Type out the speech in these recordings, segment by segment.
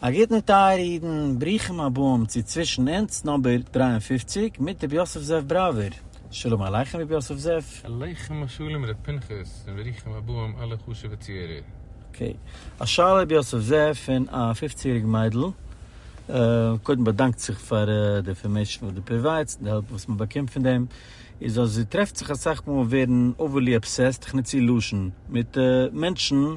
א גוטן טייערע אידן, ברוכים הבאים צו צווישן אונז נאמבער דרײַ און פֿופֿציק מיט רבי יוסף זאב בראווער, שלום עליכם רבי יוסף זאב. עליכם השלום ר' פנחס און ברוכים הבאים אלע חשובע צוהערער. אקעי, א שאלה רבי יוסף זאב פון א פופצן יעריג מיידל, קודם באדאנקט זיך פאר די אינפארמעישן וואס דו פראוויידסט און די העלפ וואס מען באקומט פון דעם, איז אז זי טרעפט זיך אסאך מאל ווערן אווערלי אבסעסט, איך נוץ איר לשון, מיט מענטשן,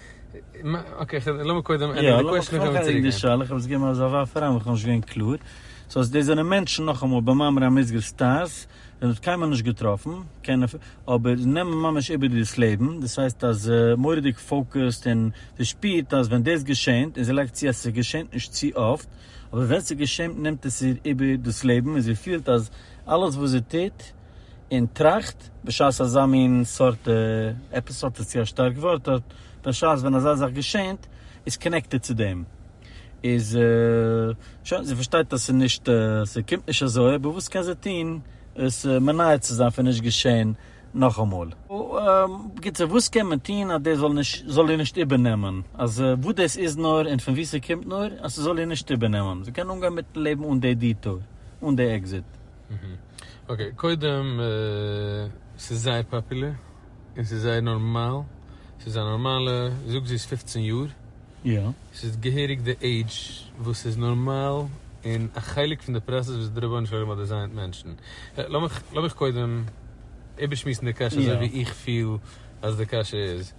אקעי, לאמיר קודם ענדיגן די קוועסטשן און קענמיר צוריקגיין. יא, לאמיר קודם ענדיגן די שאלה, כ'האב עס געגעבן אזא ווארף אריין ווייל כ'בין נישט געווען קלאר. סאו אז דאס זענען מענטשן, נאכאמאל, במאמרי המוסגר סטארס, ווען מ'האט קיינמאל נישט געטראפן, קענען אפ, אבער נעמען ממש איבער דאס לעבן, דאס הייסט אז זי מורא'דיג פאוקעסד און זי שפירט אז ווען דאס געשענט, און זי לייגט צו אז ס'געשענט נישט צו אפט, אבער ווען ס'געשענט נעמט עס איר איבער דאס לעבן און זי פילט אז אלעס וואס זי טוט, און טראכט, בשעת אזא מין סארט עפיסאד איז צו א שטארק ווארט, אט בשעת ווען אזא זאך געשענט, איז קאנעקטעד צו דעם, איז שוין, זי פארשטייט אז ס'איז נישט, ס'קומט נישט אזוי, אבער וואס קען זי טון עס מנעה צו זיין פון נישט געשען נאכאמאל? בקיצור, וואס קען מען טון אז דאס זאל איר נישט איבערנעמען, אז וואס דאס איז נאר און פון וואו ס'קומט נאר, אז ס'זאל איר נישט איבערנעמען, זי קען אנגיין מיט'ן לעבן אן די דיטור, אן די עקזיט. אקעי, קודם ס'איז זייער פאפולער, און ס'איז זייער נארמאל, ס'איז א נארמאלע, זאג זי איז פֿופֿצן יאר, ס'איז געהעריג די עידזש וואס איז נארמאל, און א חלק פון די פראסעס וואס די רבונו של עולם האט דעזיינט מענטשן. לאמיך לאמיך קודם איבערשמועסן די קשיא אזוי ווי איך פיל אז די קשיא איז.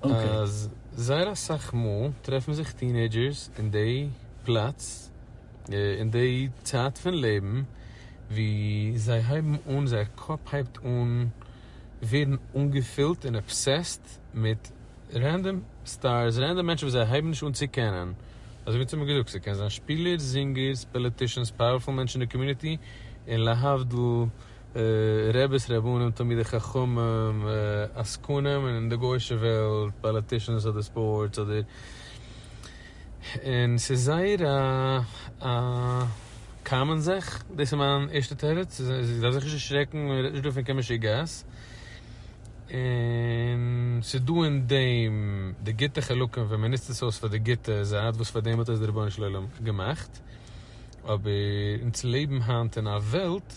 אז זייער אסאך מאל טרעפן זיך טינעידזשערס אין די פלאץ, אין די צייט פון לעבן ווי זיי הייבן אן, זייער קאפ הייבט אן ווערן אנגעפילט און אבסעסט מיט רענדאם סטארס, רענדאם מענטשן וואס זיי הייבן נישט אן צו קענען, אזוי ווי צומאל געזאגט, ס'קען זיין שפילערס, זינגערס, פאליטישאנס, פאוערפול מענטשן אין די קאמיוניטי, און להבדיל. רעביס רעבנים תלמידי חכמים עסקנים און די גוישע וועלט פאליטישאנס אדער ספארטס אדער און ס'איז זייער א קאמאן זאך דאס איז מיין ערשטע תירוץ זיי דארף זיך נישט דערשרעקן מען רעדט נישט דא פון קיין משוגעת און ס'איז דא אין דעם די גוטע חלקים ווען מען נוצט עס אויס פאר די גוטע זייט וואס פאר דעם האט עס דער רבונו של עולם געמאכט. אבער אונז לעבן היינט אין א וועלט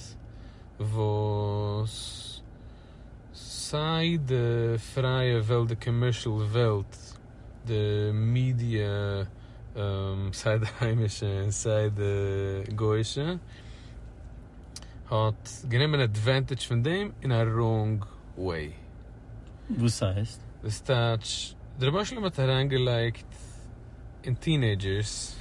וואס סיי די פרייע וועלט, די קאמערשעל וועלט, די מידיע, סיי די היימישע און סיי די גוישע, האט גענומען אדווענטעדזש פון דעם אין א ראונג וועי. וואס הייסט? דאס טייטש, די רבי שלום האט אריינגעלייגט אין טינעידזשערס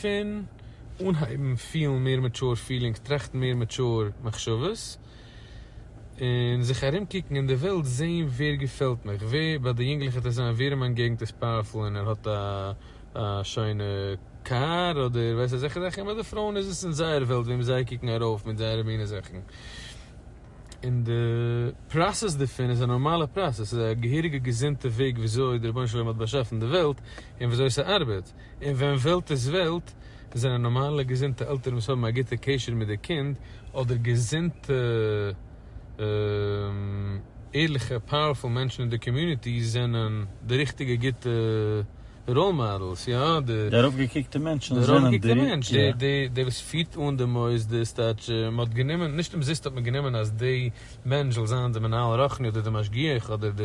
פון אנהייבן פילן מער מעטשור פילינגס, טראכטן מער מעטשור מחשבות, און זיך ארום קוקן אין די וועלט זעהן ווער געפעלט מיך, ווער ביי די יונגלעך וועט עס זיין ווער אין מיין געגנט איז פאוערפול און ער האט א שיינע קאר אדער ווייסט אזעלכע זאכן, און ביי די פרויען איז עס אין זייער וועלט וועם זיי קוקן ארויף מיט זייערע מינע זאכן, און די פראסעס דערפון איז א נארמאלע פראסעס, ס'איז א געהעריגע געזונטע וועג וויאזוי די רבונו של עולם האט באשאפן די וועלט און וויאזוי ס'ארבעט. און ווען וועלט איז וועלט, זענען נארמאלע געזונטע עלטערן וואס האבן א גוטע קשר מיט די קינד, אדער געזונטע ערליכע פאוערפול מענטשן אין די קאמיוניטי זענען די ריכטיגע גוטע ראול מאדעלס, יא. די ארויפגעקוקטע מענטשן זענען די ריכטיגע. דער וואס פירט אן די מוסדות, מ'האט גענומען, נישט אומזיסט האט מען גענומען אז די מענטש זאל זיין די מנהל רוחני אדער די משגיח אדער די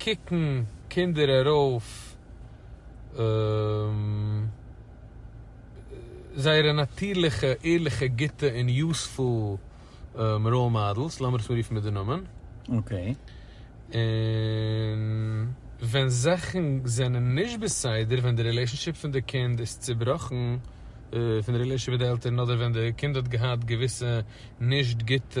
קוקן קינדער ארויף זייערע נאטירליכע ערליכע גוטע און יוספול ראול מאדעלס, לאמיר עס מיר רופן מיט די נאמען, און ווען זאכן זענען נישט בסדר, ווען די רילעישאנשיפ פון די קינד איז צובראכן, פון די רילעישאנשיפ מיט די עלטערן, אדער ווען די קינד האט געהאט געוויסע נישט גוטע.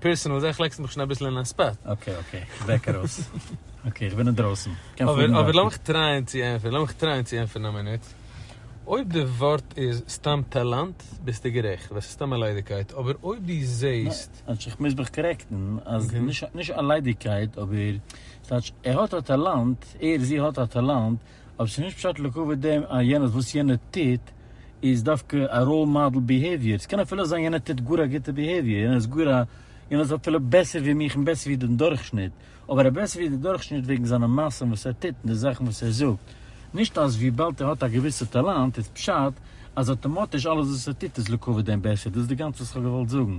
פירסענעל זעה איך לעקסט מיך שוין אביסל אין א ספאט. אקעי אקעי כ'בעק ארויס. אקעי כ'בין אינדרויסן. אבער לאמיך טרייען צו ענפערן, לאמיך טרייען צו ענפערן א מינוט. אויב די ווארט איז סתם טאלאנט ביסטו גערעכט, ווייל ס'איז סתם א ליידיגקייט, אבער אויב דו זעהסט. כאטש איך מוז מיך קארעקטן אז נישט א ליידיגקייט אבער ס'טייטש ער האט א טאלאנט, ער זי האט א טאלאנט, אבער ס'איז נישט פשט לקבוע דעם אז יענער וואס יענער טוט איז דווקא א ראול מאדעל ביהעיוויער, ס'קען אפילו זיין יענער טוט גאר א גוטע ביהעיוויער, יענער איז גאר א, יענער איז אפילו בעסער ווי מיך און בעסער ווי דעם דורכשניט, אבער ער איז בעסער ווי דער דורכשניט וועגן זיינע מעשים וואס ער טוט און די זאכן וואס ער זאגט, נישט אז וויבאלד ער האט א געוויסע טאלאנט איז פשט אז אויטאמאטיש אלעס וואס ער טוט איז לקבוע דעם בעסער, דאס איז די גאנצע וואס כ'האב געוואלט זאגן.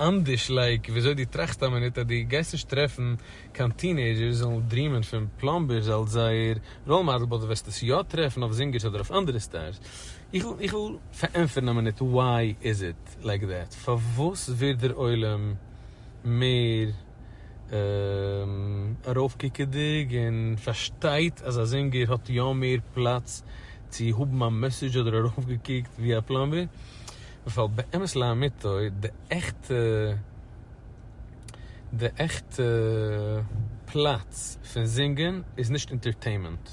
אנדערש לייק וויאזוי דו טראכסט א מינוט אז דו גייסט נישט טרעפן קיין טינעידזשערס וואס וועלן דרימען פון פלאמבערס אלס זייער ראול מאדעל באט דו וועסט עס יא טרעפן אויף זינגערס אדער אויף אנדערע סטארס. איך וויל פארענטפערן א מינוט why is it like that? פארוואס ווערט דער עולם מער ארויפקוקעדיג און פארשטייט אז א זינגער האט יא מער פלאץ צו האבן א מעסעדזש אדער ארויפגעקוקט ווי א פלאמבער? ווייל באמת לאמיתו די עכטע די עכטע פלאץ פון זינגען איז נישט אינטערטעימענט.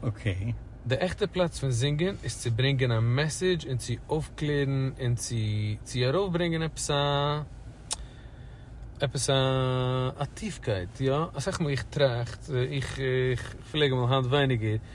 אקעי. די עכטע פלאץ פון זינגען איז צו ברענגען א מעסעדזש און צו אויפקלערן און צו צו ארויפברענגען עפעס א עפעס א א טיפקייט יא אסאך מאל איך טראכט איך איך פלעג אמאל היינט ווייניגער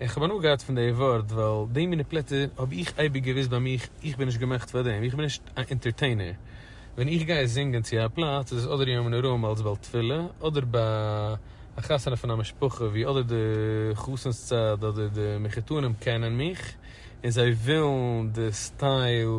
איך האב הנאה געהאט פון די ווארט ווייל די מינע פלעצער האב איך אייביג געוויסט ביי מיך איך בין נישט געמאכט פאר דעם איך בין נישט א אינטערטעינער ווען איך גיי זינגען צו א פלאץ איז עס אדער יום נוראים אלס בעל תפילה אדער ביי א חתונה פון א משפחה ווי אדער די חתן'ס צד אדער די מחותנים קענען מיך און זיי ווילן די סטייל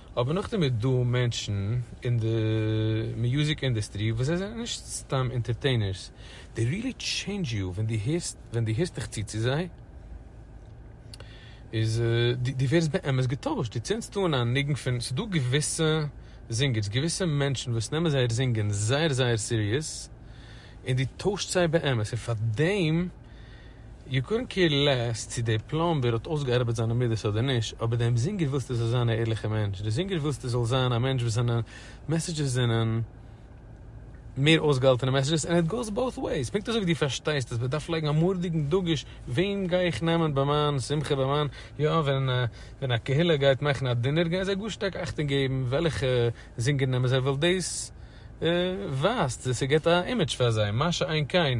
אבער נאכדעם איז דא מענטשן אין די מיוזיק אינדעסטרי וואס זיי זענען נישט סתם אינטערטעינערס, דעי ריעלי טשעינדזש יו, ווען דו הערסט ווען דו הערסט דיך צו צו זיי איז דו ווערסט באמת געטוישט, דו צינדסט אן א ניגון פון, ס'איז דא געוויסע זינגערס געוויסע מענטשן וואס נעמען זייער זינגען זייער זייער סיריעס און דו טוישט זיי באמת און פאר דעם. יו קאן קעיר לעס צו דער פלאמבער האט אויסגעארבעט זיינע מידות אדער נישט, אבער דעם זינגער ווילסטו זאל זיין א ערליכער מענטש, דער זינגער ווילסטו זאל זיין א מענטש וואס זיינע מעסעדזשעס זענען מער אויסגעהאלטענע מעסעדזשעס, ענד איט גאוס באות וועיס, פונקט אזוי ווי דו פארשטייסט אז מען דארף לייגן א מארדיגן דגוש וועם גיי איך נעמען ביי מיין שמחה ביי מיין יא ווען א קהילה גייט מאכן א דינער גייען זיי גאר שטארק אכטונג געבן וועלכע זינגער נעמען זיי ווייל דאס ווייזט, דאס גיבט א אימעדזש פאר זיי, מה שאין כן.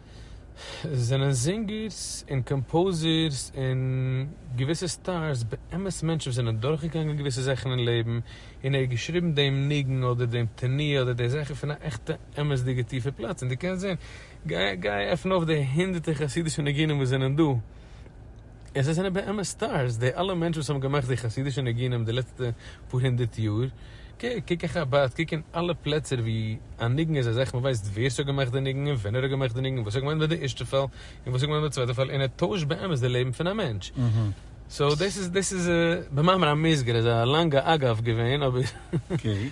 זענען זינגערס און קאמפאוזערס און געוויסע סטארס באמת מענטשן וואס זענען דורכגעגאנגען געוויסע זאכן אין לעבן און ער האט געשריבן דעם ניגון אדער דעם תנועה אדער די זאכן פון א עכטע אמת'דיגע טיפע פלאץ און דו קענסט זען, גיי עפן אויף די הונדערטער חסידישע ניגונים וואס זענען דא. און זיי זענען באמת סטארס, די אלע מענטשן וואס האבן געמאכט די חסידישע ניגונים די לעצטע פאר הונדערט יאר, קוק אין חבד, קוק אין אלע פלעצער ווי א ניגון איז א זאך, מען ווייסט ווער ס'האט געמאכט די ניגון, און ווען ער האט געמאכט די ניגון, וואס האט געמיינט מיט די ערשטע פאל, און וואס האט געמיינט מיט די צווייטע פאל, און ער טוישט באמת די לעבן פון א מענטש. סאו דאס איז דאס איז. במאמר המוסגר איז א לאנגע אגב געווען אבער.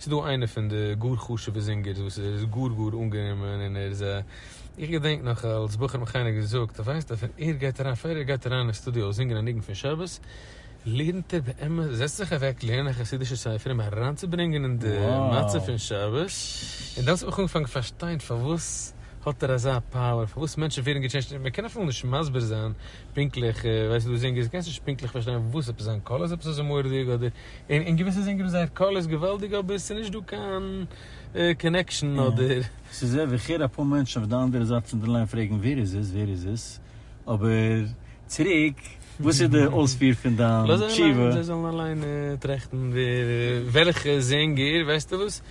ס'איז דא איינער פון די גאר חשובע זינגערס וואס איז גאר גאר אנגענומען און ער איז א, איך געדענק נאך אלס בחור האט מיך איינער געזאגט אז ווייסט אז ווען ער גייט אריין פאר ער גייט אריין אין סטודיאו זינגען א ניגון פון שבת לערנט ער באמת זעצט זיך אוועק לערנען א חסידישע ספר אים אריינצוברענגען אין די מצב פון שבת און דאן האט זיך מיך אנגעפאנגען פארשטיין פארוואס האט ער אזא פאוער פארוואס מענטשן ווערן געטשעינדזשט און מען קען אפילו נישט מסביר זיין פונקטליך ווייסט דו זינגערס קענסט נישט פונקטליך פארשטיין וואס עפעס זיין קול איז עפעס אזוי מורא'דיג אדער און אין געוויסע זינגען זייער קול איז געוואלדיג אבער ס'נישט דא קיין קאנעקשאן אדער. ס'איז ער ווי כ'הער אפאר מענטשן אויף די אנדערע זייט פון די ליין פרעגן ווער איז עס ווער איז עס אבער צוריק וואס איז די אויספיר פון דיין תשובה? זיי זאלן אליין טראכטן ווער וועלכע זינגער ווייסטו וואס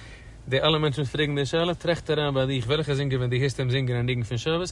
די אלע מענטשן וואס פרעגן די שאלה טראכט אריין ביי דיך וועלכע זינגער ווען די הערסט אים זינגען א ניגון פון שבת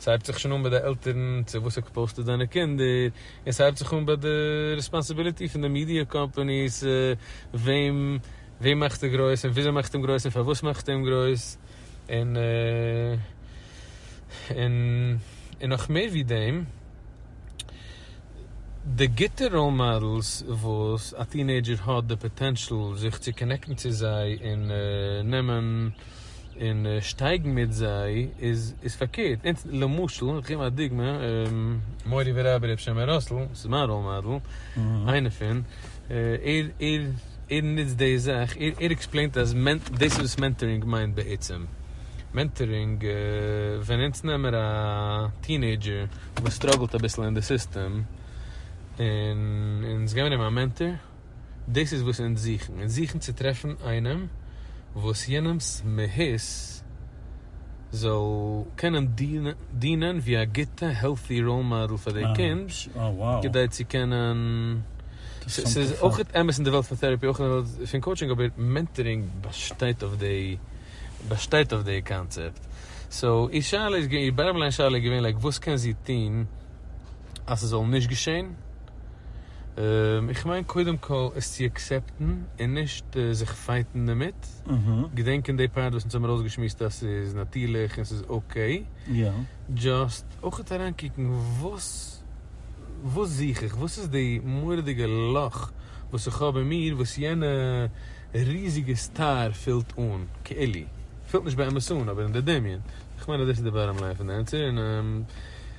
ס'הייבט זיך שוין אן ביי די עלטערן צו וואס ער פאוסטעט זיינע קינדער, און ס'הייבט זיך אן ביי די רעספאנסיביליטי פון די מידיע קאמפאניס, וועם וועם מאכט ער גרויס, און וויאזוי מאכט אים גרויס, און פארוואס מאכט ער אים גרויס, און און און נאך מער ווי דעם, די גוטע ראול מאדעלס וואס א טינעידזשער האט די פאטענשאל זיך צו קאנעקטן צו זיי און נעמען און שטייגן מיט זיי איז איז פארקערט אונז למשל איך גיב א דוגמא מורי ורבי ר' שמעון ראסל ס'איז מיין ראול מאדעל איינע פון ער ער ער נוצט די זאך ער ער עקספלעינט אז דאס איז וואס מענטארינג מיינט בעצם מענטארינג ווען אונז נעמער א טינעידזשער וואס סטראגעלט אביסל אין די סיסטעם און אונז געבן אים א מענטאר. דאס איז וואס אונז זוכן, אונז זוכן צו טרעפן איינעם וואס יענעמ'ס מהות זאל קענען דינען ווי א גוטע העלטי ראול מאדעל פאר די קינד כדי צו קענען, ס'איז אויך אמת אין די וועלט פון טעראפי אויך אין די וועלט פון קאוטשינג אבער מענטערינג באשטייט אויף די באשטייט אויף די קאנצעפט, סאו איר שאלה איז געווען, איר באטעם ליין שאלה איז געווען לייק וואס קען זי טון? אז ס'זאל נישט געשען, איך מיין קודם כל עס צו עקסעפטן און נישט זיך פייטן דערמיט, געדענקען די פארט וואס אונז האבן ארויסגעשמועסט אז ס'איז נאטירליך און ס'איז אקעי, דזשאסט אויך אריינקוקן וואס וואס זוך איך, וואס איז די מורא'דיגע לאך וואס איך האב אין מיר וואס יענע ריזיגע סטאר פילט אן, כאילו, פילט נישט באמת אן אבער אין די דמיון, איך מיין אז דאס איז די באטאם ליין פון די ענטפער און.